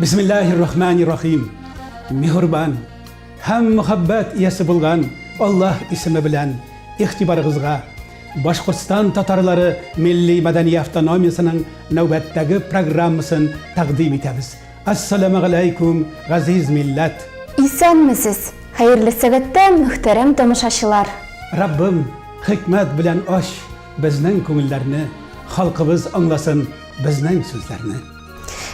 Бисмиллахир рахманир рахим. Миһурбан һәм мөхәббәт иясе булган Аллаһ исеме белән игътибарыгызга Башкортстан татарлары милли-мәдәни автономиясенең нәүбәттәге программасын тәкъдим итәбез. Ассаламагаләйкүм, газиз милләт! Исәнмесез! Хәерле сәбәттә, мөхтәрәм тамашачылар! Раббым, хикмәт белән ач безнең күңелләрне, халкыбыз аңласын безнең сүзләрне.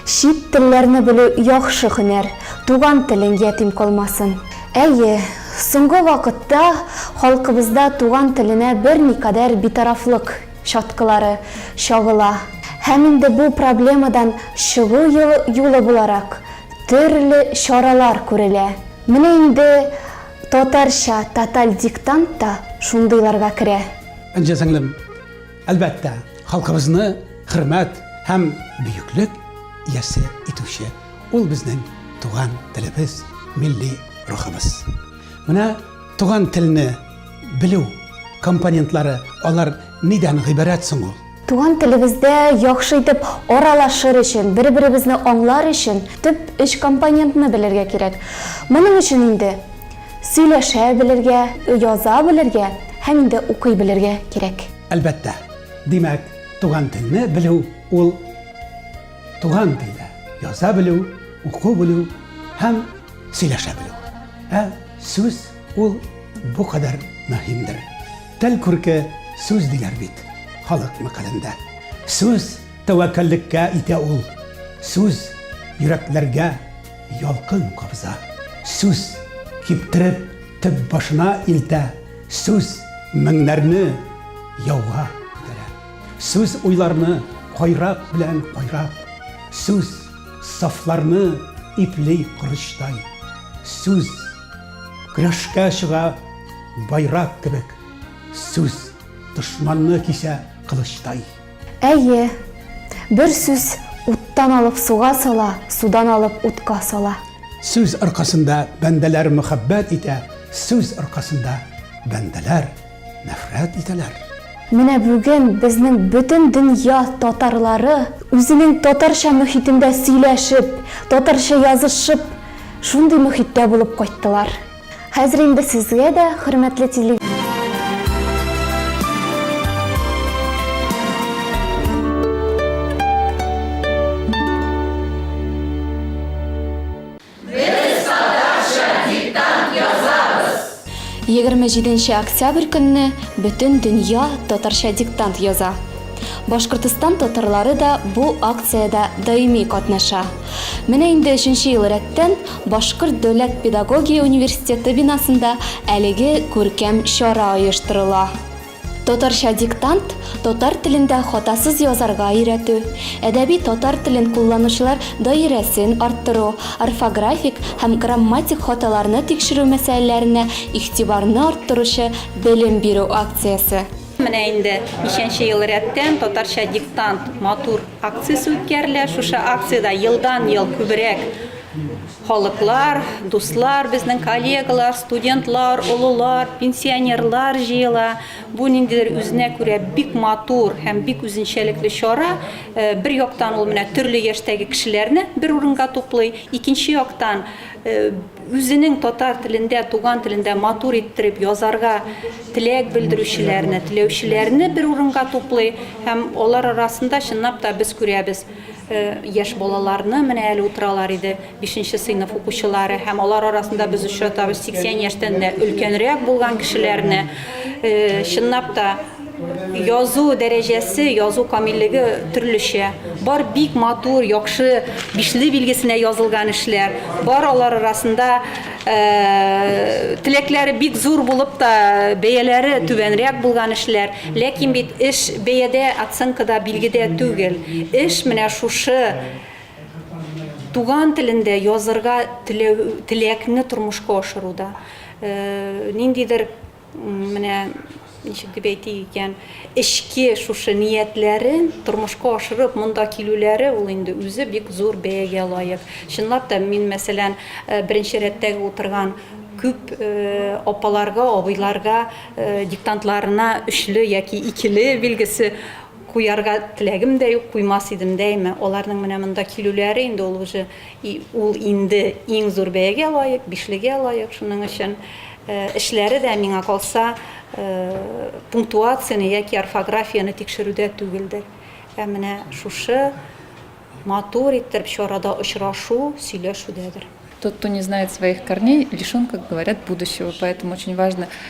Чит телләрне белү яхшы һөнәр, туган телең ятим калмасын. Әйе, соңгы вакытта халкыбызда туган теленә берникадәр битарафлык чаткылары чагыла. Һәм инде бу проблемадан чыгу юлы буларак төрле чаралар күрелә. Менә инде татарча тоталь диктант та шундыйларга керә. Энҗе сеңлем. Әлбәттә, халкыбызны хөрмәт һәм бөеклек иясе итүче ул безнең туган телебез, милли рухыбыз. Менә туган телне белү компонентлары, алар нидән гыйбарәт соң ул? Туган телебездә яхшы итеп аралашыр өчен, бер-беребезне аңлар өчен төп өч компонентны белергә кирәк. Моның өчен инде Сөйләшә белергә, яза белергә һәм инде укый белергә кирәк. Әлбәттә. Димәк, туган телне белү ул туган телдә яза белү, уку белү һәм сөйләшә белү. Ә сүз ул бу кадәр мөһимдер. Тел күрке сүз диләр бит халык мәкалендә. Сүз тәвәккәллеккә итә ул. Сүз йөрәкләргә. Ялкын кабыза. Сүз киптереп төп башына илтә. Сүз меңнәрне яуга күтәрә. Сүз уйларны кайрак белән кайрап. Сүз сафларны ипли корычтай. Сүз көрәшкә чыга байрак кебек. Сүз дошманны кисә кылычтай. Әйе. Бер сүз уттан алып суга сала, судан алып утка сала. Сүз аркасында бәндәләр мөхәббәт итә, сүз аркасында бәндәләр нәфрәт итәләр. Менә бүген безнең бөтен дөнья татарлары үзенең татарча мөхитендә сөйләшеп, татарча язышып, шундый мөхиттә булып кайттылар. Хәзер инде сезгә дә, хөрмәтле теле. Егерме җиденче октябрь көнне бөтен дөнья татарча диктант яза. Башкортстан татарлары да бу акциядә даими катнаша. Менә инде өченче ел рәттән Башкорт дәүләт педагогия университеты бинасында әлеге күркәм чара оештырыла. Татарча диктант, татар телендә хатасыз язарга өйрәтү, әдәби татар телен кулланучылар даирәсен арттыру, орфографик һәм грамматик хаталарны тикшерү мәсьәләләренә игътибарны арттыручы белем бирү акциясе. Менә инде ничәнче ел рәттән татарча диктант матур акциясе үткәрелә. Шушы акциядә елдан-ел күбрәк халыклар, дуслар, безнең коллегалар, студентлар, олылар, пенсионерлар җыела. Бу ниндидер үзенә күрә бик матур һәм бик үзенчәлекле чара. Э, бер яктан ул менә төрле яшьтәге кешеләрне бер урынга туплый, икенче яктан э, Үзенең татар телендә, туган телендә матур иттереп язарга теләк белдерүчеләрне, теләүчеләрне бер урынга туплый һәм алар арасында, чынлап та, без күрәбез, яшь балаларны, менә әле утыралар иде, бишенче сыйныф укучылары, һәм алар арасында без очратабыз 80 яшьтән дә өлкәнрәк булган кешеләрне. Чынлап та, Язу дәрәҗәсе, язу камиллеге төрлечә. Бар бик матур, яхшы бишле билгесенә язылган эшләр. Бар алар арасында э, теләкләре бик зур булып та бәяләре түбәнрәк булган эшләр. Ләкин бит эш бәядә, оценкада, билгедә түгел. Эш менә шушы туган телендә язырга теләкне тормышка ашыруда. Э, ниндидер Менә ничек дип әйтик икән, эчке шушы ниятләрен тормышка ашырып монда килүләре ул инде үзе бик зур бәягә лаек. Чынлап та мин, мәсәлән, э, беренче рәттәге утырган күп э, апаларга, абыйларга э, диктантларына өчле яки икеле билгесе куярга теләгем дә юк, куймас идем дәйме. Аларның менә монда килүләре инде ул уже И ул инде иң зур бәягә лаек, бишлегә лаек, шуның өчен эшләре дә, миңа калса, пунктуацияне яки орфографияне тикшерүдә түгелдер. Ә менә шушы матур иттереп чарада очрашу, сөйләшүдәдер. Тот, кто не знает своих корней, лишен, как говорят, будущего. Поэтому очень важно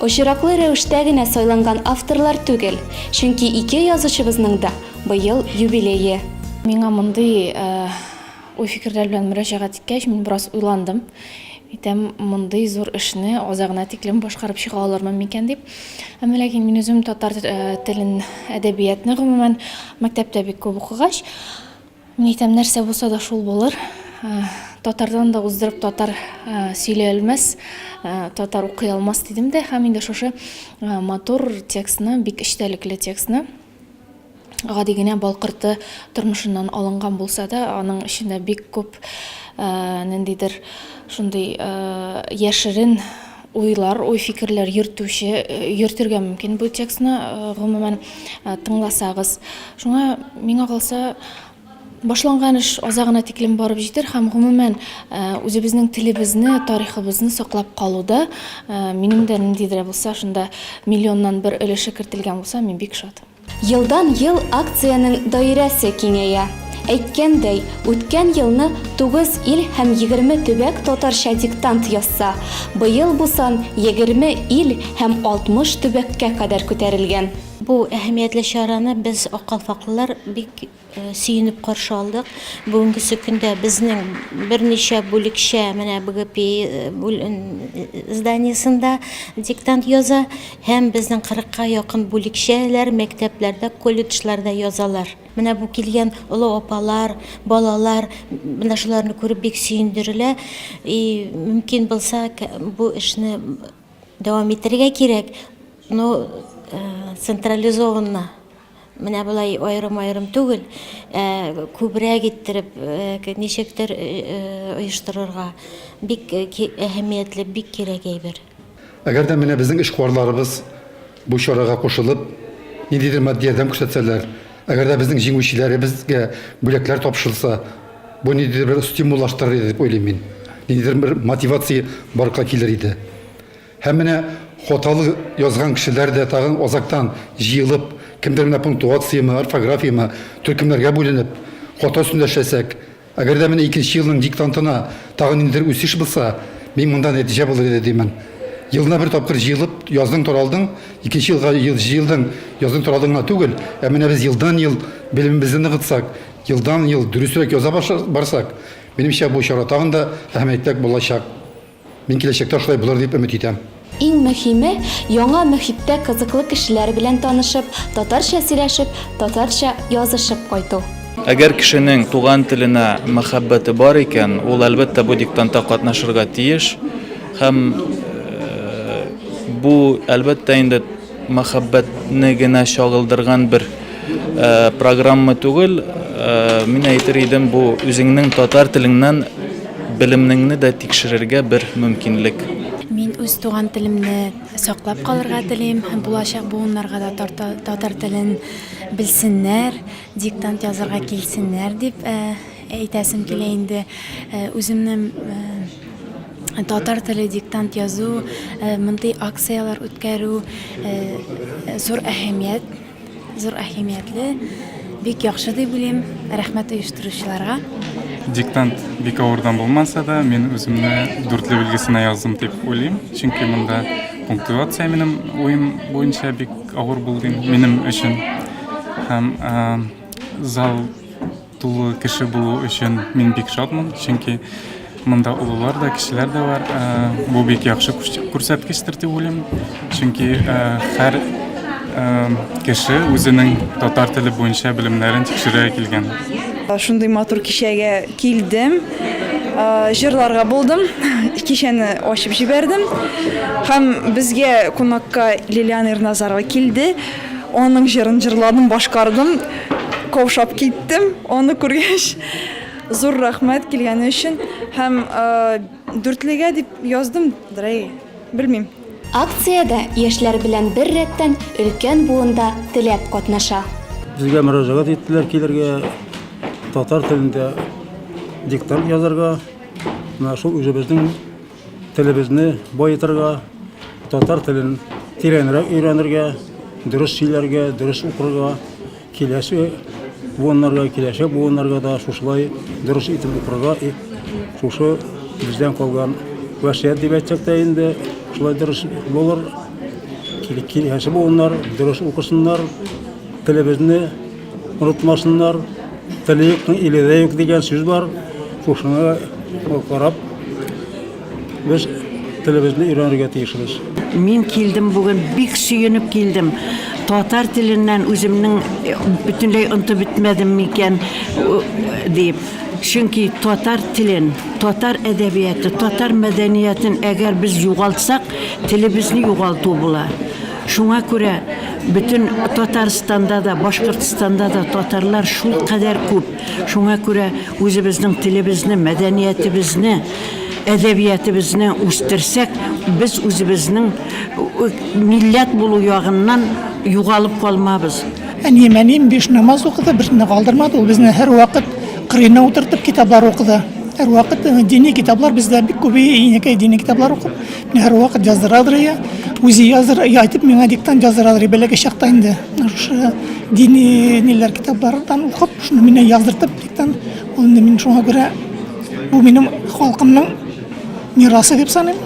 Очраклы рәвештә генә сайланган авторлар түгел, чөнки ике язучыбызның да быел юбилее. Миңа мондый уй-фикерләр белән мөрәҗәгать иткәч, мин бераз уйландым. Әйтәм, мондый зур эшне азагына тиклем башкарып чыга алырмын микән дип. Әмма ләкин мин үзем татар телен, әдәбиятны гомумән мәктәптә бик күп укыгач, Мин әйтәм, нәрсә булса да шул булыр. Татардан да уздырып татар сөйләй алмас, татар укый алмас дидем дә, һәм инде шушы матур текстны, бик эчтәлекле текстны гади генә балкырты тормышыннан алынган булса да, аның эчендә бик күп ниндидер шундый яшерен уйлар, уй-фикерләр йөртүче, йөртергә мөмкин бу текстны, гомумән, тыңласагыз. Шуңа, миңа калса, башланган эш азагына тиклем барып җитер һәм, гомумән, үзебезнең телебезне, тарихыбызны саклап калуда минем дә ниндидер булса шунда миллионнан бер өлеше кертелгән булса, мин бик шат. Елдан-ел акциянең даирәсе киңәя. Әйткәндәй, үткән елны тугыз ил һәм егерме төбәк татарча диктант язса, быел бу сан егерме ил һәм алтмыш төбәккә кадәр күтәрелгән. Бу әһәмиятле чараны без, аккалфаклылар, бик Сөенеп каршы алдык. Бүгенгесе көндә безнең берничә бүлекчә менә БГПИ зданиесендә диктант яза һәм безнең 40 ка якын бүлекчәләр мәктәпләрдә, колледжларда язалар. Менә бу килгән олы апалар, балалар менә шуларны күреп бик сөендерелә. И мөмкин булса, бу эшне дәвам итәргә кирәк, но централизованно. Менә болай аерым-аерым түгел, ә күбрәк иттереп, э, ничектер э, э, оештырырга. Бик э, ки- әһәмиятле, бик кирәк әйбер. Әгәр дә менә безнең эшкуарларыбыз бу чарага кушылып, ниндидер матди ярдәм күрсәтсәләр, әгәр дә безнең җиңүчеләребезгә бүләкләр тапшырылса, бу ниндидер бер стимуллаштырыр иде дип уйлыйм мин. Ниндидер бер мотивация барлыкка килер иде. Һәм менә хаталы язган кешеләр дә тагын азактан җыелып, кемдер менә пунктуациямы, орфографиямы, төркемнәргә бүленеп, хата өстендә эшләсәк, әгәр дә менә икенче елның диктантына тагын ниндидер үсеш булса, мин монда нәтиҗә булыр иде димен. Елына бер тапкыр җыелып, яздың-таралдың, икенче елга җыелдың, яздың-таралдың гына түгел, ә менә без елдан-ел белемебезне ныгытсак, елдан-ел дөресрәк яза барсак, минемчә, бу чара тагын да әһәмиятлерәк булачак. Мин киләчәктә шулай булыр дип өмет итәм. Иң мөһиме, яңа мөхиттә кызыклы кешеләр белән танышып, татарча сөйләшеп, татарча язышып кайту. Әгәр кешенең туган теленә мәхәббәте бар икән, ул, әлбәттә, бу диктантта катнашырга тиеш. Һәм бу, әлбәттә инде. Мәхәббәтне генә чагылдырган бер программа түгел. Мин әйтер идем, бу үзеңнең татар телеңнән белемнеңне дә тикшерергә бер мөмкинлек. Мин үз туган телемне саклап калырга телим һәм булачак буыннарга да татар телен белсеннәр, диктант язырга килсеннәр дип Әйтәсем килә инде, үземнең татар теле диктант язу, мондый акцияләр үткәрү зур әһәмият, зур әһәмиятле, бик яхшы дип уйлыйм. Рәхмәт оештыручыларга. Диктант бик авырдан булмаса да, мин үземне дүртле билгесенә яздым дип уйлыйм, чөнки монда пунктуация минем уем буенча бик авыр булды минем өчен. Һәм зал Тулы кеше булу өчен мин бик шатмын, чөнки монда олылар да, кешеләр дә бар. Бу бик яхшы күрсәткечтер дип уйлыйм, чөнки һәр кеше үзенең татар теле буенча белемнәрен тикшерә килгән. Шундый матур кичәгә килдем, җырларга булдым, кичәне ачып җибәрдем һәм безгә кунакка Лилиана Ирназарова килде. Аның җырын җырладым, башкардым, каушап киттем, аны күргәч. Зур рәхмәт килгәне өчен һәм дүртлегә дип яздым, дрей, белмим. Акциядә яшьләр белән бер рәттән өлкән буын да теләп катнаша. Безгә мөрәҗәгать иттеләр килергә, татар телендә диктант язарга. Менә шул үзебезнең Телебезне баетырга, татар телен тирәнрәк өйрәнергә, дөрес сөйләргә, дөрес укырга, киләсе буыннарга, киләчәк буыннарга да шушылай дөрес итеп укырга, шушы бездән калган вәсият дип әйтсәк тә инде, шулай дөрес булыр. Киләсе буыннар дөрес укысыннар, телебезне Онытмасыннар, теле юкның иле дә юк дигән сүз бар. Шушыны карап, без телебезне өйрәнергә тиешбез. Мин килдем бүген, бик сөенеп килдем. Татар теленнән үземнең э, бөтенләй онтып бетмәдем микән дип. Чөнки татар телен, татар әдәбияты, татар мәдәниятен әгәр без югалтсак, телебезне югалту була. Шуңа күрә бөтен Татарстанда да, Башкортстанда да татарлар шулкадәр күп. Шуңа күрә үзебезнең телебезне, мәдәниятебезне, әдәбиятебезне үстерсәк, без үзебезнең милләт булу ягыннан югалып калмабыз. Әнием, әнием биш намаз укыды, берсен дә калдырмады. Ул безне һәрвакыт кырыена утыртып китаплар укыды. Һәрвакыт дини китаплар бездә бик күбәя, инәкәй дини китаплар укып, Һәр вакыт яздырадыр я, үзе языр, я айтып миңа диктант яздырадыр, бәләкәй чакта инде. Шушы дини ниләр китаплардан укып, шуны миңа яздыртып диктант, ул инде мин шуңа күрә бу минем халкымның мирасы дип саныйм.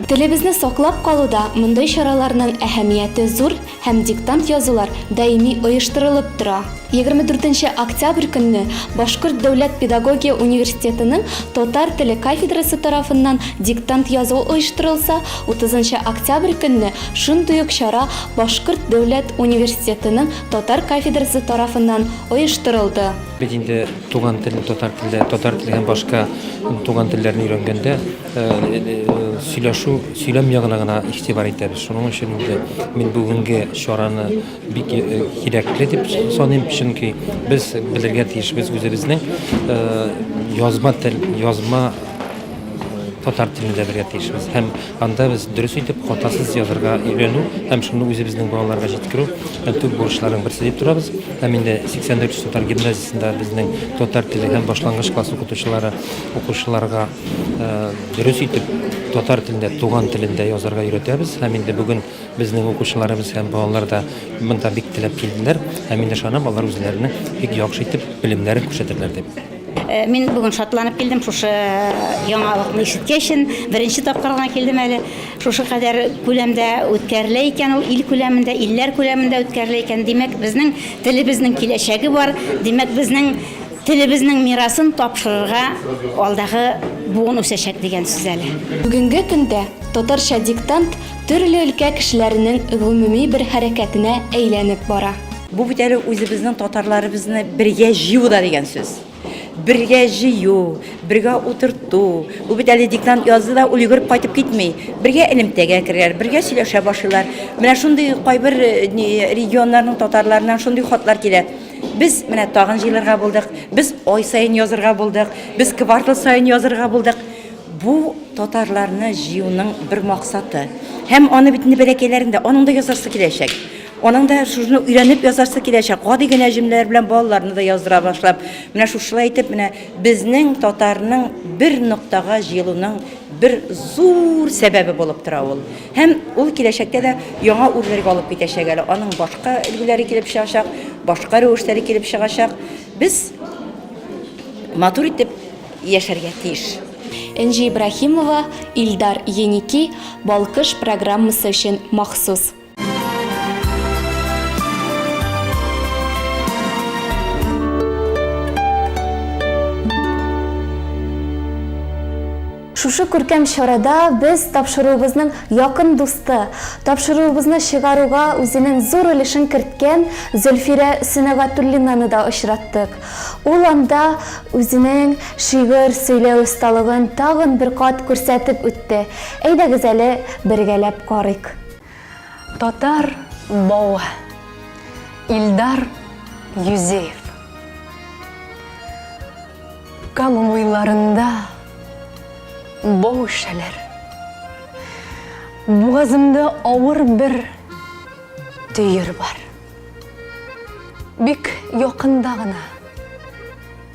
Телебезне саклап калуда мондый чараларның әһәмияте зур, һәм диктант язулар даими оештырылып тора. Егерме дүртенче октябрь көнне Башкорт дәүләт педагогия университетының татар теле кафедрасы тарафыннан диктант язу оештырылса, утызынчы октябрь көнне шундый ук чара Башкорт дәүләт университетының татар кафедрасы тарафыннан оештырылды. Бит инде туган тел татар телдә, татар теле һәм башка туган телләрне өйрәнгәндә, сөйләшү, сөйләм ягына гына игътибар итәбез. Шуның өчен инде мин бүгенге чараны бик э, кирәкле дип саныйм, чөнки без белергә тиешбез үзебезнең э, язма тел, язма э, татар телендә белергә тиешбез һәм анда без дөрес итеп хатасыз язырга өйрәнү һәм шуны үзебезнең балаларга җиткерү төп бурычларның берсе дип торабыз һәм инде 84 татар гимназиясендә безнең татар теле һәм башлангыч класс укытучылары укучыларга Дөрес итеп татар телендә, туган телендә язарга өйрәтәбез. Һәм инде бүген безнең укучыларыбыз һәм балалар да монда бик теләп килделәр. Һәм мин ышанам, алар үзләренең бик яхшы итеп белемнәрен күрсәтерләр дип. Мин бүген шатланып килдем шушы яңалыкны ишеткәч. Беренче тапкыр гына килдем әле. Шушы кадәр күләмдә үткәрелә икән ул, ил күләмендә, илләр күләмендә үткәрелә икән. Димәк, безнең телебезнең киләчәге бар. Димәк, безнең Телебезнең мирасын тапшырырга алдагы буын үсәчәк дигән сүз әле. Бүгенге көндә Татарча диктант төрле өлкә кешеләренең гомуми бер хәрәкәтенә әйләнеп бара. Бу бит әле үзебезнең татарларыбызны бергә җыю да дигән сүз. Бергә җыю, бергә утырту. Бу бит әле диктант язды да ул йөгереп кайтып китми. Бергә элемтәгә керәләр, бергә сөйләшә башлыйлар. Менә шундый кайбер регионнарның татарларыннан шундый хатлар килә. Без менә тагын җыелырга булдык, без ай саен язырга булдык, без квартал саен язырга булдык. Бу татарларны җыюның бер максаты. Һәм аны бит инде бәләкәйләрендә аның да язасы киләчәк. Аның да шуны өйрәнеп язасы киләчәк. Гади генә җөмләләр белән балаларны да яздыра башлап. Менә шушылай итеп менә безнең татарның бер ноктага җыелуның бер зур сәбәбе булып тора ул. Һәм ул киләчәктә дә яңа үрләргә алып китәчәк әле. Аның башка өлгеләре килеп чыгачак, башка рәвешләре килеп чыгачак. Без матур итеп яшәргә тиеш. Энҗе Ибраһимова, Илдар Еники, Балкыш программасы өчен махсус. Шушы күркәм чарада без тапшыруыбызның якын дусты, тапшыруыбызны чыгаруга үзенең зур өлешен керткән Зөлфирә Сөнәгатуллинаны да очраттык. Ул анда үзенең шигырь сөйләү осталыгын тагын бер кат күрсәтеп үтте. Әйдәгез әле бергәләп карыйк. Татар бавы, Илдар Юзеев. Кама муеннарында бау шәләр. Бугазымда авыр бер төер бар. Бик якында гына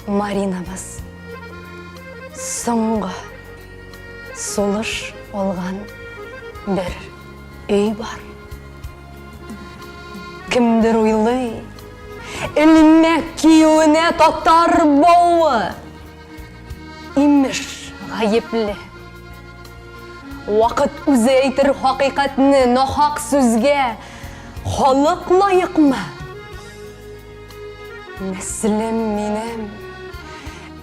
Маринабыз. Соңгы сулыш алган бер өй бар. Кемдер уйлый, элмәк киюенә татар бавы. Имеш, гаепле. Вакыт үзе әйтер хакыйкатьне, нахак сүзгә халык лаекмы? Нәслем минем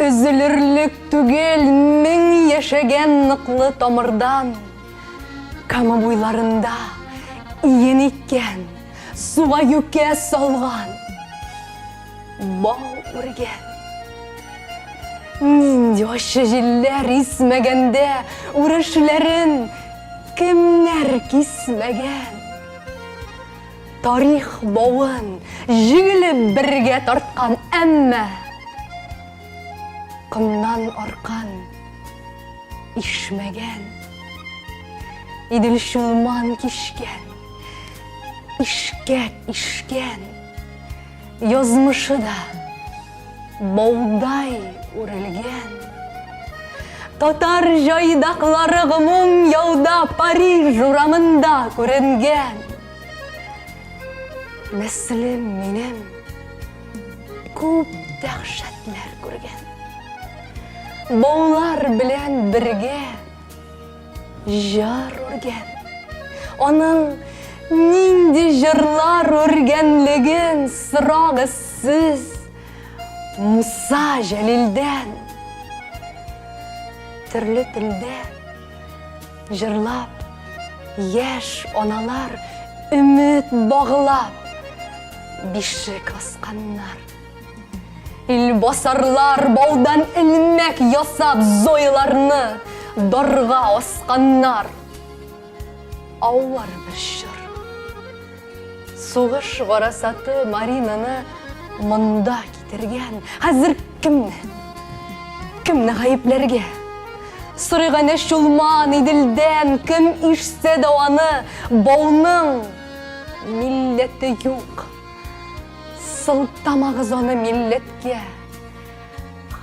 өзелерлек түгел, мең яшәгән ныклы тамырдан. Кама буйларында иен иккән, суга юкә салган, бау үргән. Нинди ачы җилләр исмәгәндә үрешләрен кемнәр кисмәгән? Тарих бавын җигелеп бергә тарткан, әмма комнан аркан Ишмәгән. Идел чулман кишкән. Ишкәк ишкән. Язмышы да баудай үрелгән. Татар җайдаклары гомум яуда Париж урамында күренгән. Мөслим минем. Күп дәхшәтләр күргән. Баулар белән бергә җар үргән. Аның нинди җырлар үргәнлеген сорагыз сез Муса Җәлилдән. Төрле телдә Җырлап, яшь аналар өмет баглап, бишек асканнар. Илбасарлар баудан элмәк ясап зойларны дарга асканнар. Авыр бер чор. Сугыш гарасаты Маринаны монда китергән. Хәзер Кемне? Кемне гаепләргә? Сырыгане чулман, иделдән, кем ишсә дә аны, бауның милләте юк. Сылтамагыз аны милләткә.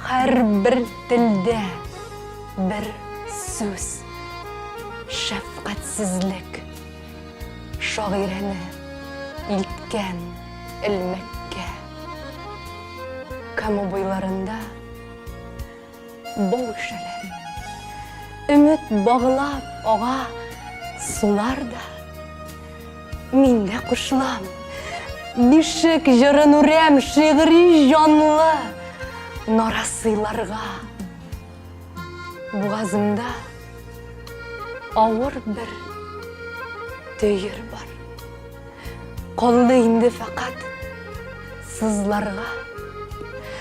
Һәрбер телдә бер сүз. Шәфкатьсезлек. Шагыйрәне илткән элмәккә. Кама буйларында бау шәләр. Өмет баглап ага сулар да. Мин дә кушылам. Бишек җырын үрәм шигъри җанлы нарасыйларга. Бугазымда авыр бер төер бар. Калды инде фәкать сызларга.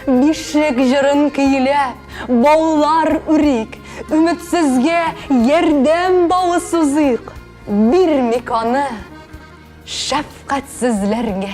Бишек җырын көйләп, баулар үрик, өметсезгә ярдәм бавы сузыйк. Бирмик аны шәфкатьсезләргә.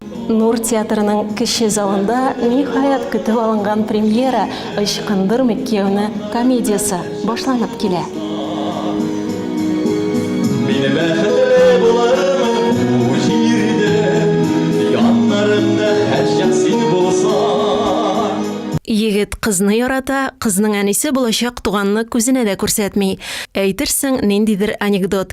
Нур театрының кече залында ниһаять көтеп алынган премьера Ычкындырмыйк кияүне комедиясе башланып килә. Мин бәхетле булырмын бу җирдә, яннарымда һәрчак син булсаң. Егет кызны ярата, кызның әнисе булачак туганны күзенә дә күрсәтми. Әйтерсең, ниндидер анекдот.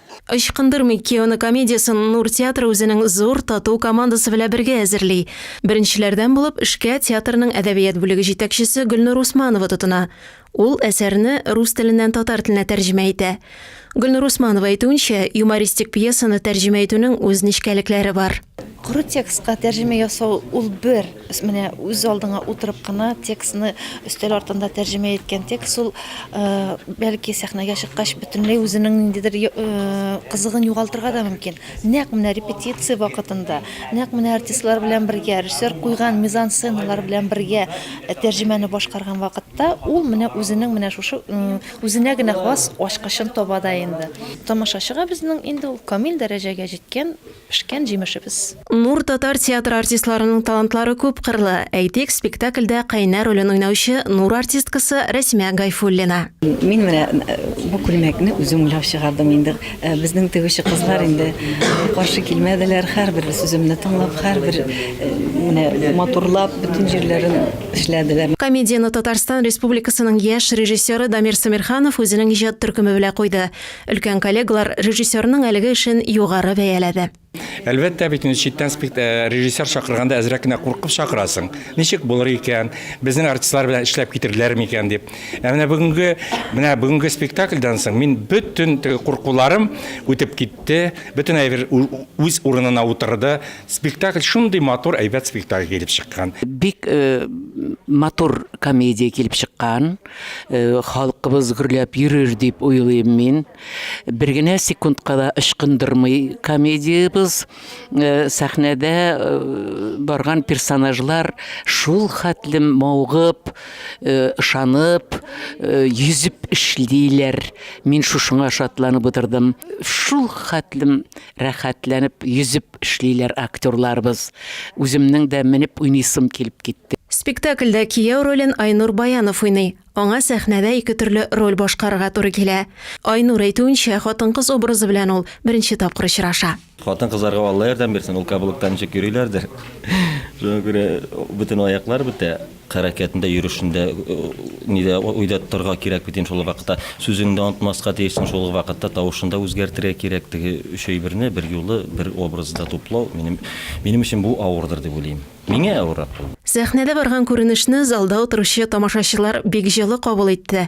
Ычкындырмый кияүне комедиясен Нур театры үзенең зур, тату командасы белән бергә әзерли. Беренчеләрдән булып эшкә театрның әдәбият бүлеге җитәкчесе Гөлнур Усманова тотына. Ул әсәрне рус теленнән татар теленә тәрҗемә итә. Гөлнур Усманова әйтүенчә, юмористик пьесаны тәрҗемә итүнең үз нечкәлекләре бар. Коры текстка тәрҗемә ясау ул бер. Менә үз алдыңа утырып кына текстны өстәл артында тәрҗемә иткән текст ул, бәлки, сәхнәгә чыккач бөтенләй үзенең ниндидер кызыгын югалтырга да мөмкин. Нәкъ менә репетиция вакытында, нәкъ менә артистлар белән бергә, режиссер куйган мизансценалар белән бергә тәрҗемәне башкарган вакытта ул менә үзенең менә шушы үзенә генә хас ачкычын таба да инде. Тамашачыга безнең инде ул камил дәрәҗәгә җиткән Пешкән җимешебез. Нур татар театры артистларының талантлары күпкырлы. Әйтик, спектакльдә Кайнар ролен уйнаучы Нур артисткасы Рәсимә Гайфуллина. Мин менә бу күлмәкне үзем уйлап чыгардым инде. Безнең тегүче кызлар инде каршы килмәделәр, һәрбер сүземне тыңлап, һәрбер менә матурлап, бөтен җирләрен эшләделәр. Комедияне Татарстан Республикасының яшь режиссеры Дамир Сәмирханов үзенең иҗат төркеме белән куйды. Өлкән коллегалар режиссерның әлеге эшен югары бәяләде. Әлбәттә бит инде читтән э, режиссер чакырганда әзрәк кенә куркып чакырасың. Ничек булыр икән? Безнең артистлар белән эшләп китерләр микән дип. Ә менә бүгенге менә бүгенге спектакльдан соң мин бөтен куркуларым үтеп китте. Бөтен әйбер үз урынына утырды. Спектакль шундый матур, әйбәт спектакль килеп чыккан. Бик э, матур комедия килеп чыккан. Э, халкыбыз гөрләп йөрер дип уйлыйм мин. Бер генә секундка да ычкындырмый комедиябез. Э, сәхнәдә э, барган персонажлар шул хәтле маугып, ышанып, йөзеп эшлиләр. Мин шушыңа шатланып утырдым. Шул хәтле Рәхәтләнеп йөзеп эшлиләр актерларыбыз. Үземнең дә менеп уйныйсым килеп китте. Спектакльдә кияү ролен Айнур Баянов уйный. Аңа сәхнәдә ике төрле роль башкарырга туры килә. Айнур әйтүенчә, хатын-кыз образы белән ул беренче тапкыр очраша. Хатын-кызларга Алла ярдәм бирсен, ул кабылыкта ничек йөриләрдер. Шуңа күрә бөтен аяклар бетә. Хәрәкәтендә, йөрешендә, нидә уйда тотарга кирәк бит инде шул вакытта. Сүзеңне дә онытмаска тиешсең шул ук вакытта, тавышын да үзгәртергә кирәк. Теге өч әйберне берьюлы бер образда туплау, минем минем өчен бу авырдыр дип уйлыйм. Миңа авыррак булды. Сәхнәдә барган күренешне залда утыручы тамашачылар бик җылы кабул итте.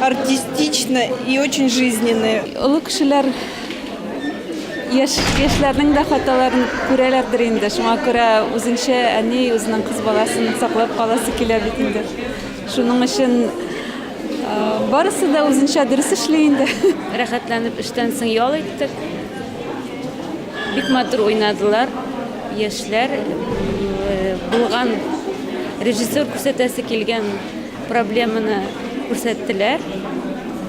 Артистично и очень жизненные. Олы кешеләр яшь яшьләрнең дә хаталарын күрәләрдер инде. Шуңа күрә үзенчә әни үзенең кыз баласын саклап каласы килә бит инде. Шуның өчен барысы да үзенчә дөрес эшли инде. Рәхәтләнеп эштән соң ял иттек. Бик матур уйнадылар яшьләр. Булган режиссер күрсәтәсе килгән Проблеманы күрсәттеләр,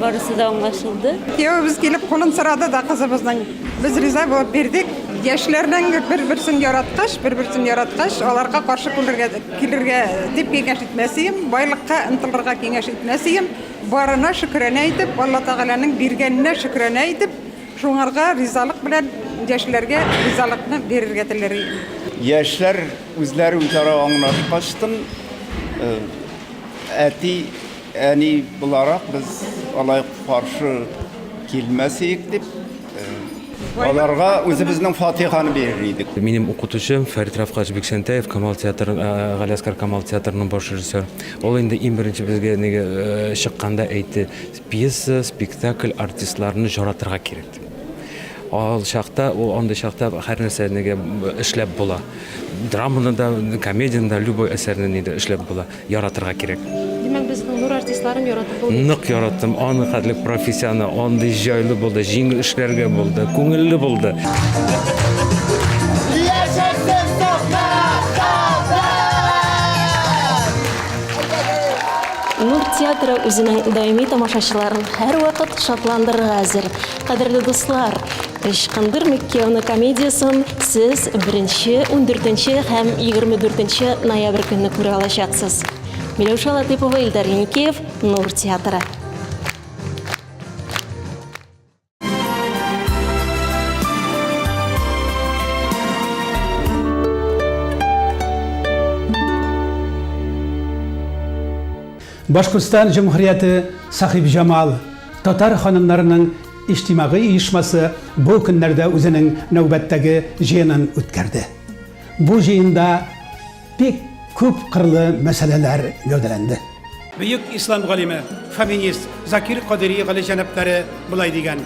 барысы да аңлашылды. Кияүебез килеп кулын сорады да кызыбызның. Без риза булып бирдек. Яшьләрнең бер-берсен яраткач, бер-берсен яраткач, аларга каршы күлергә, килергә дип киңәш итмәсием, байлыкка ынтылырга киңәш итмәсием. Барына шөкранә итеп, Алла Тәгаләнең биргәненә шөкранә итеп, шуңарга ризалык белән яшьләргә ризалыкны бирергә теләр идем. Яшьләр Үзләре үзара аңлашкач тын, әти, әни буларак без алай каршы килмәс идек дип, аларга үзебезнең фатиханы бирер идек. Минем укытучым Фәрит Рафкач Биксәнтәев, Камал театры, Галиәскар Камал театрының баш режиссер. Ул инде иң беренче безгә чыкканда әйтте, пьеса, спектакль, артистларны җаратырга кирәк. Ал чакта, ул андый чакта һәрнәрсә нигә эшләп була. Драманы да, комедияне дә, любой әсәрне нидә эшләп була. Яратырга кирәк. Димәк, безнең нур артистларын яратып булмый. Нык яраттым, аны хәтле профессионы, андый җайлы булды, җиңел эшләргә булды, күңелле булды. Яшәсен Татар! Нур театры үзенең даими тамашачыларын һәрвакыт шатландырырга әзер. Кадерле дуслар, Ычкындыр Миккеоны комедиясен сез беренче, ундүртенче һәм егерме дүртенче ноябрь көнне күрә алачаксыз. Миләүшә Латыйпова, Илдар Еникеев, Нур театры. Башкортстан җөмһүрияте Сахиб Җамал татар ханымнарының иҗтимагый оешмасы бу көннәрдә үзенең нәүбәттәге җыенын үткәрде. Бу җыенда Бик күп кырлы мәсьәләләр гәүдәләнде. Бөек ислам галиме, фоминист Закир Кадери галиҗәнаплары болай дигән,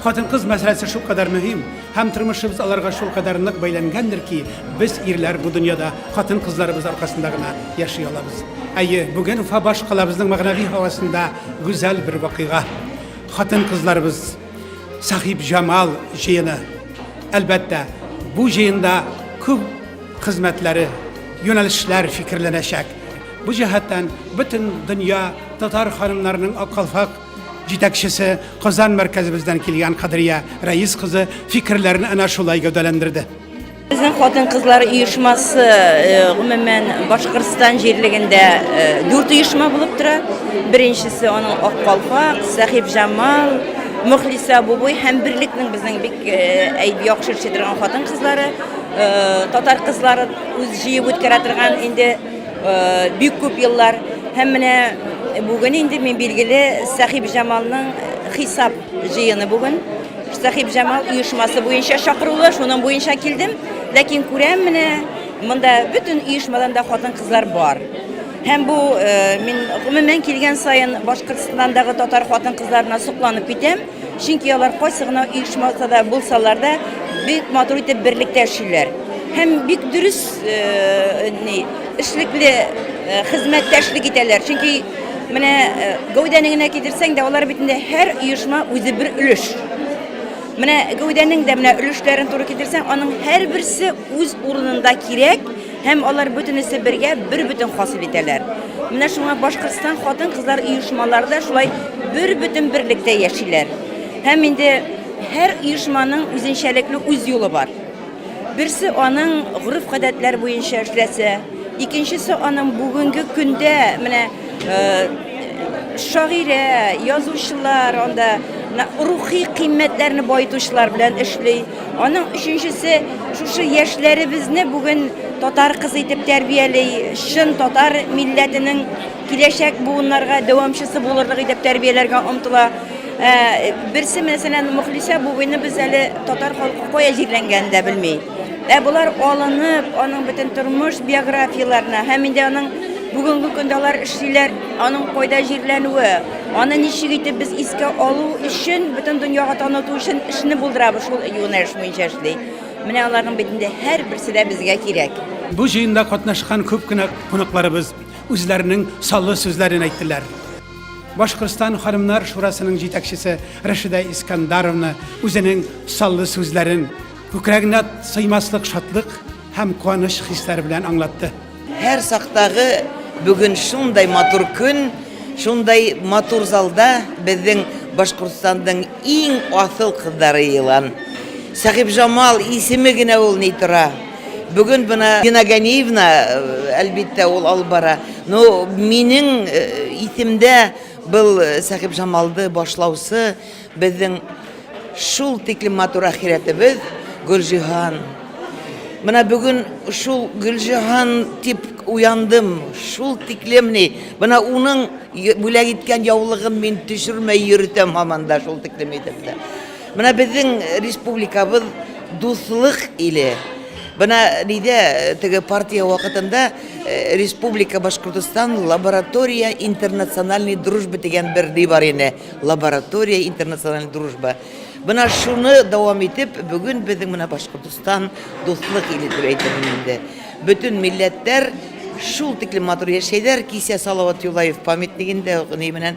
Хатын-кыз мәсьәләсе шулкадәр мөһим һәм тормышыбыз аларга шулкадәр нык бәйләнгәндер ки, без, ирләр, бу дөньяда хатын-кызларыбыз аркасында гына яши алабыз. Әйе, бүген Уфа башкалабызның мәгънәви һавасында гүзәл бер вакыйга. Хатын-кызларыбыз! Сахибҗамал җыены. Әлбәттә, бу җыенда күп хезмәтләре, юнәлешләр фикерләнәчәк. Бу җәһәттән бөтен дөнья татар ханымнарының Аккалфак җитәкчесе Казан мәркәзебездән килгән Кадрия Рәис кызы фикерләрен әнә шулай гәүдәләндерде. Безнең хатын-кызлар оешмасы гомумән Башкортстан җирлегендә дүрт оешма булып тора. Беренчесе аның Ак калфак, Сәхиб Җамал, Мөхлисә Бубуй һәм берлектнең безнең бик э, яхшы эшли торган хатын кызлары, э, татар кызлары үз җыеп үткәрә торган инде э, бик күп еллар. Һәм менә бүген инде мин билгеле Сәхиб Җамалның хисап җыены бүген. Сәхибҗамал оешмасы буенча чакырулы, шуның буенча килдем. Ләкин күрәм менә, монда бөтен оешмадан да хатын-кызлар бар. Һәм бу э, мин гомумән килгән саен Башкортстандагы татар хатын-кызларына сокланып китәм. Чөнки алар кайсы гына оешмада да булсалар да, бик матур итеп берлектә эшлиләр. Һәм бик дөрес э, ни Эшлекле хезмәттәшлек итәләр, чөнки менә гәүдәне генә китерсәң дә, алар бит инде һәр оешма үзе бер өлеш. Менә гәүдәнең дә менә өлешләрен туры китерсәң, аның һәрберсе үз урынында кирәк һәм алар бөтенесе бергә бер бөтен хасил итәләр. Менә шуңа Башкортстан хатын-кызлар оешмалары да шулай бер бөтен берлектә яшиләр. Һәм инде һәр оешманың үзенчәлекле үз юлы бар. Берсе аның гореф-гадәтләр буенча эшләсә, икенчесе аның бүгенге көндә менә э, шагыйрә, язучылар, анда рухи кыйммәтләрне баетучылар белән эшли. Аның өченчесе шушы яшьләребезне бүген татар кызы итеп тәрбияли, чын татар милләтенең киләчәк буыннарга дәвамчысы булырлык итеп тәрбияләргә омтыла. Ә, берсе мәсәлән Мөхлисә буыны без әле татар халкы кая җирләнгәнен дә белми. Ә болар алынып, аның бөтен тормыш биографияләренә һәм инде аның бүгенге көндә алар эшлиләр, аның кайда җирләнүе, аны ничек итеп без искә алу өчен, бөтен дөньяга таныту өчен эшне булдырабыз шул юнәлеш буенча эшли. Менә аларның бит инде һәрберсе дә безгә кирәк. Бу җыенда катнашкан күп кенә кунакларыбыз үзләренең саллы сүзләрен әйттеләр. Башкортстан ханымнар шурасының җитәкчесе Рәшидә Искандаровна үзенең саллы сүзләрен күкрәгенә сыймаслык шатлык һәм куаныч хисләре белән аңлатты. Һәр сактагы бүген шундай матур көн, шундай матур залда безнең Башкортстанның иң асыл кыздары елан. Сәхибҗамал исеме генә ул ни тора. Бүген бына Дина Ганиевна, әлбиттә, ул алып бара. Но минең исемдә был Сәхиб Жамалды башлаусы безнең шул тиклем матур ахирәтебез Гөлҗиһан. Менә бүген шул Гөлҗиһан дип уяндым. Шул тиклем ни, менә уның бүләк иткән яулыгын мин төшермәй йөртәм һаман да шул тиклем итеп тә. Менә безнең республикабыз дуслык иле. Бына нидә теге партия вакытында республика Башкортостан лаборатория интернациональной дружбы дигән бер ни бар иде. Лаборатория интернациональной дружбы. Бына шуны дәвам итеп, бүген безнең менә Башкортостан дуслык иле дип әйтәм инде. Бөтен милләтләр шул тиклем матур яшәйләр, кисә Салават Юлаев памятнигендә ни менән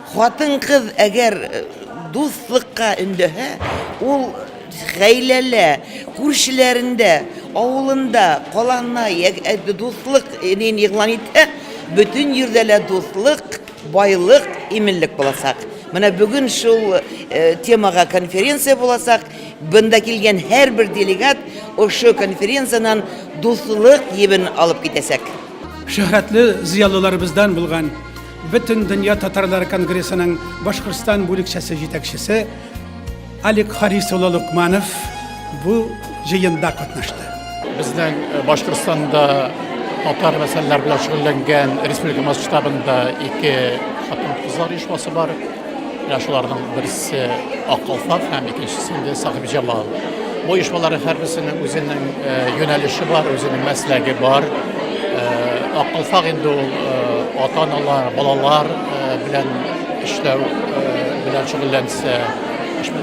Хатын-кыз әгәр дуслыкка өндәһә, ул гаиләлә, күршеләрендә, авылында, каланна ягъ дуслык нин игълан итһә, бөтен җирдә лә дуслык, байлык, иминлек булачак. Менә бүген шул темага конференция булачак. Бында килгән һәрбер делегат ошо конференцияннән дуслык җебен алып китәчәк. Шөһрәтле зыялыларыбыздан булган Бөтендөнья татарлары конгрессының Башкортстан бүлекчәсе җитәкчесе Алик Харис улы Лукманов бу җыенда катнашты. Безнең э, Башкортстанда татар мәсьәләләре белән шөгыльләнгән республика масштабында ике хатын-кызлар оешмасы бар. Менә шуларның берсе Ак калфак һәм икенчесе инде Сахиб Җамал. Бу оешмалар һәрберсенең үзенең э, юнәлеше бар, үзенең мәсләге бар. Э, Ак калфак инде ул э, ата-аналар, балалар белән эшләү белән шөгыльләнсә,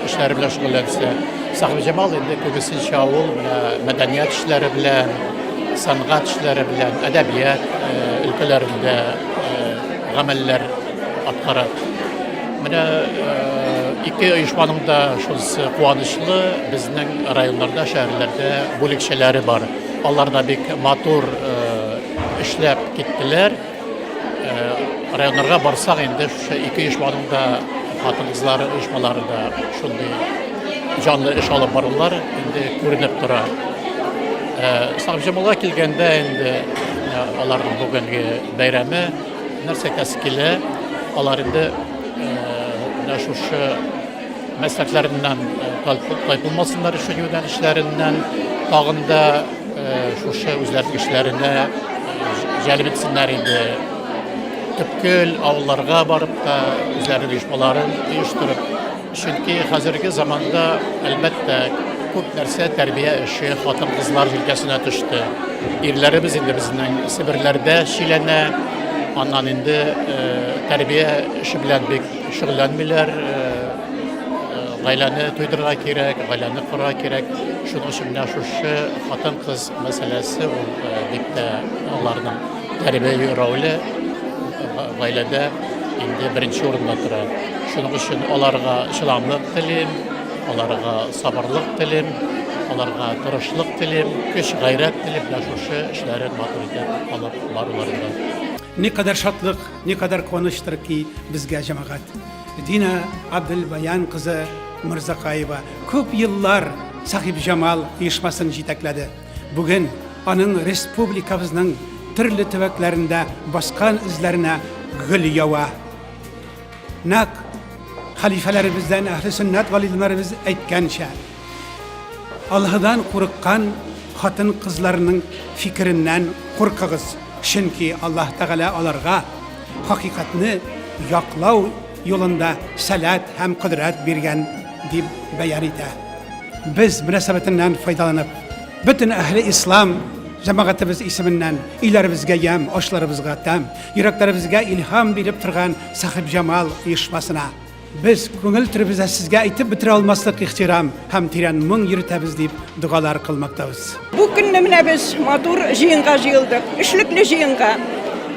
эшләре белән шөгыльләнсә, Сахиб Җамал инде күбесенчә ул мәдәният эшләре белән, сәнгать эшләре белән, әдәбият өлкәләрендә гамәлләр Аткара. Менә ике оешманың да шунысы куанычлы, безнең районнарда, шәһәрләрдә бүлекчәләре бар. Алар да бик матур эшләп киттеләр. Районнарга барсак, инде шушы ике оешманың да хатын-кызлары оешмалары да шундый җанлы эш алып барулар инде күренеп тора. Савҗамалга килгәндә, инде аларның бүгенге бәйрәме, Нәрсә кәс килә, алар инде менә шушы мәсләкләреннән кайтылмасыннар өчен юнәлешләреннән тагын да шушы үзләренең эшләренә җәлеп итсеннәр иде. Төпкел авылларга барып та үзләренең оешмаларын оештырып Чөнки хәзерге заманда, әлбәттә, күп нәрсә тәрбия эше хатын-кызлар җилкәсенә төште. Ирләребез инде безнең Себерләрдә чиләнә, аннан инде тәрбия эше белән бик шөгыльләнмиләр. Гаиләне туйдырырга кирәк, гаиләне корырга кирәк. Шуның өчен менә шушы хатын-кыз мәсьәләсе ул бик тә аларның Тәрбияви роле гаиләдә инде беренче урында тора. Шуның өчен аларга чыдамлык телим, аларга сабырлык телим, аларга тырышлык телим, көч-гайрәт телим менә шушы эшләрен матур итеп алып баруларында. Никадәр шатлык, никадәр куаныч-тыр ки безгә, җәмәгать! Динә Абделбаян кызы Мырзакаева күп еллар Сахибҗамал оешмасын җитәкләде. Бүген аның республикабызның төрле төбәкләрендә баскан эзләренә гөл ява. Нәк халифәләребездән, әһле сөннәт галимнәребез әйткәнчә, Аллаһыдан курыккан хатын-кызларның фикереннән куркыгыз, чөнки Аллаһ Тәгалә аларга хакыйкатьне яклау юлында сәләт һәм кодрәт биргән, дип бәян итә. Без, мөнәсәбәтеннән файдаланып, бөтен әһле ислам җәмәгатебез исеменнән өйләребезгә ямь, ашларыбызга тәм, йөрәкләребезгә илһам биреп торган Сахибҗамал оешмасына без, күңел түребездә сезгә әйтеп бетерә алмаслык ихтирам, һәм тирән моң йөртәбез дип догалар кылмактабыз. Бу көнне менә без матур җыенга җыелдык. Эшлекле җыенга.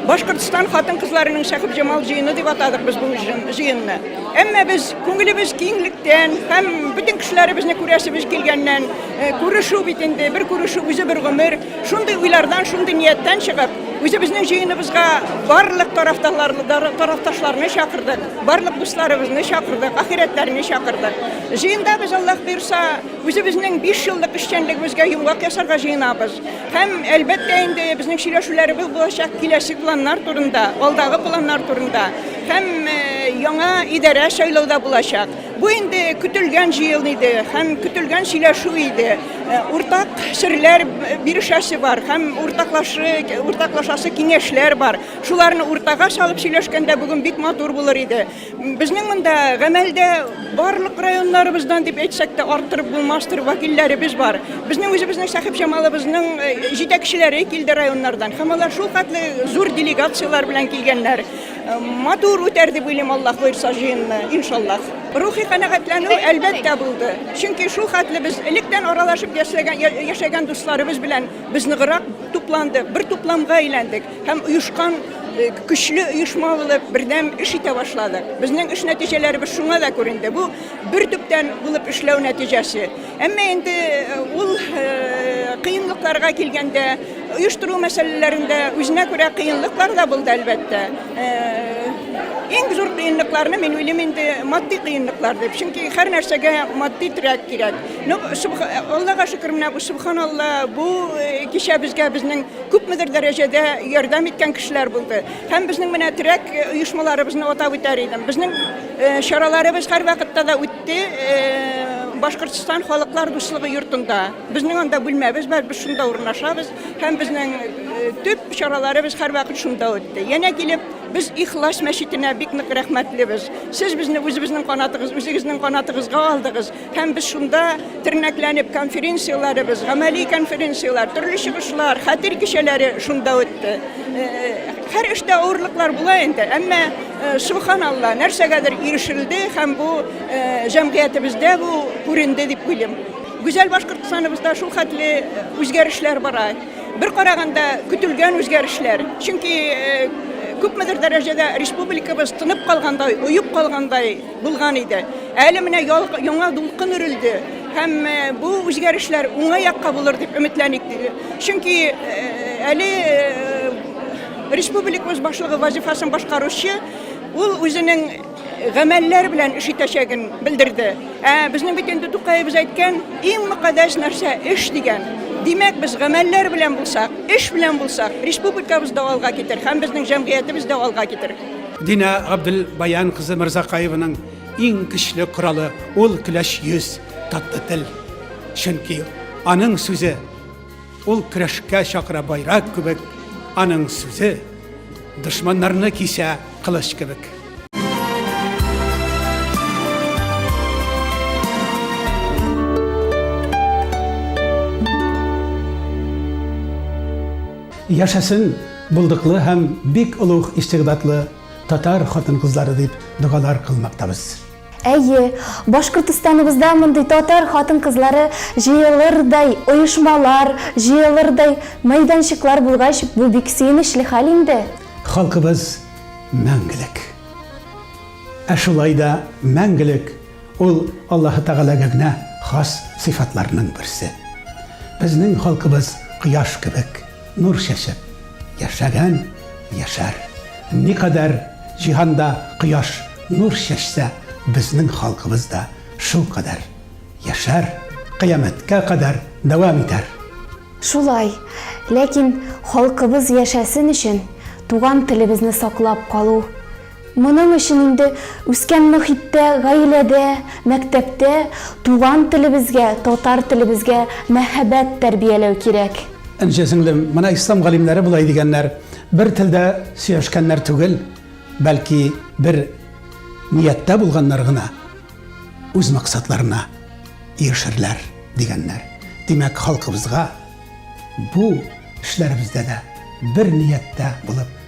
Башкортстан хатын-кызларының Шәхеп Җамал җыены дип атадык без бу җыенны. Әмма без күңелебез киңлектән һәм бөтен кешеләребезне күрәсебез килгәннән, э, күрешү бит инде, бер күрешү үзе бер гомер. Шундый уйлардан, шундый нияттән чыгып, Үзебезнең җыеныбызга барлык тарафташларны чакырдык, барлык дусларыбызны чакырдык, ахирәтләрне чакырдык. Җыенда без Аллаһ бирса, үзебезнең 5 еллык эшчәнлегебезгә йомгак ясарга җыенабыз. Һәм әлбәттә инде безнең сөйләшүләребез булачак киләсе планнар турында, алдагы планнар турында һәм яңа идарә сайлауда булачак. Бу инде көтелгән җыел иде һәм көтелгән сөйләшү иде. Э, уртак серләр бирешәсе бар һәм уртаклашы, уртаклашасы киңәшләр бар. Шуларны уртага салып сөйләшкәндә бүген бик матур булыр иде. Безнең монда гамәлдә барлык районнарыбыздан дип әйтсәк тә арттырып булмастыр вәкилләребез бар. Безнең үзебезнең Сәхип Җамалыбызның э, җитәкчеләре килде районнардан һәм алар шул хәтле зур делегацияләр белән килгәннәр. Матур үтәр дип уйлыйм, Аллаһ боерса җыенны, иншаллаһ. Рухи канәгатьләнү әлбәттә булды. Чөнки шул хәтле без электән аралашып яшәгән, яшәгән дусларыбыз белән без ныграк тупландык, бер тупламга әйләндек һәм оешкан э, көчле оешма булып бердәм эш итә башладык. Безнең эш нәтиҗәләребез шуңа да күренде. Бу бер төптән булып эшләү нәтиҗәсе. Әмма инде ул кыенлыкларга килгәндә, оештыру мәсьәләләрендә үзенә күрә кыенлыклар да булды, әлбәттә. Иң зур кыенлыкларны мин уйлыйм инде матди кыенлыклар дип, чөнки һәр нәрсәгә матди терәк кирәк. Ну, Аллага шөкер, менә бу Субханалла, бу кичә безгә безнең күпмедер дәрәҗәдә ярдәм иткән кешеләр булды. Һәм безнең менә терәк оешмаларыбызны атап үтәр идем. Безнең чараларыбыз һәрвакытта да үтте. Те, Башкортстан халыклар дуслыгы йортында. Безнең анда бүлмәбез бар, без шунда урнашабыз һәм безнең төп чараларыбыз һәрвакыт шунда үтте. Янә килеп, без Ихлас мәчетенә бик нык рәхмәтлебез. Сез безне үзебезнең канатыгыз, үзегезнең канатыгызга алдыгыз һәм без шунда тернәкләнеп конференцияләребез, гамәли конференцияләр, төрле чыгышлар, хәтер кичәләре шунда үтте. Һәр эштә авырлыклар була инде, әмма субханалла, нәрсәгәдер ирешелде һәм бу җәмгыятебездә бу күренде дип уйлыйм. Гүзәл Башкортстаныбызда шул хәтле үзгәрешләр бара. Бер караганда көтелгән үзгәрешләр. Чөнки күпмедер дәрәҗәдә республикабыз тынып калгандай, оеп калгандай булган иде. Әле менә яңа дулкын өрелде һәм бу үзгәрешләр уңай якка булыр дип өметләник. Чөнки әле республикабыз башлыгы вазифасын башкаручы ул үзенең гамәлләр белән эш итәчәген белдерде. Ә безнең бит инде Тукаебыз әйткән, иң мөкатдәс нәрсә эш дигән. Димәк, без гамәлләр белән булсак, эш белән булсак, республикабыз да алга китер һәм безнең җәмгыятебез дә алга китер. Динә Габделбаян кызы Мырзакаеваның иң көчле коралы ул көләч йөз. Татлы тел, чөнки аның сүзе ул көрәшкә чакыра байрак кебек, аның сүзе дошманнарны кисә кылыч кебек. Яшәсен булдыклы һәм бик олуг истигъдатлы татар хатын-кызлары дип догалар кылмактабыз. Әйе, Башкортостаныбызда мондый татар хатын-кызлары җыелырдай оешмалар, җыелырдай мәйданчыклар булгач, бу бик сөенечле хәл инде. Халкыбыз мәңгелек. Ә шулай да мәңгелек ул Аллаһы Тәгаләгә генә хас сыйфатларның берсе. Безнең халкыбыз кояш кебек. Нур чәчеп яшәгән яшәр. Никадәр җиһанда кояш нур чәчсә, безнең халкыбыз да шул кадәр яшәр, кыямәткә кадәр дәвам итәр. Шулай. Ләкин халкыбыз яшәсен өчен, туган телебезне саклап калу, Моның өчен инде үскән мохиттә, гаиләдә, мәктәптә туган телебезгә, татар телебезгә мәһабәт тәрбияләү кирәк. Энҗе сеңлем, менә ислам галимнәре болай дигәннәр, Бер телдә сөйләшкәннәр түгел, бәлки бер нияттә булганнар гына үз максатларына ирешерләр, дигәннәр. Димәк, халкыбызга бу эшләребездә дә бер нияттә булып,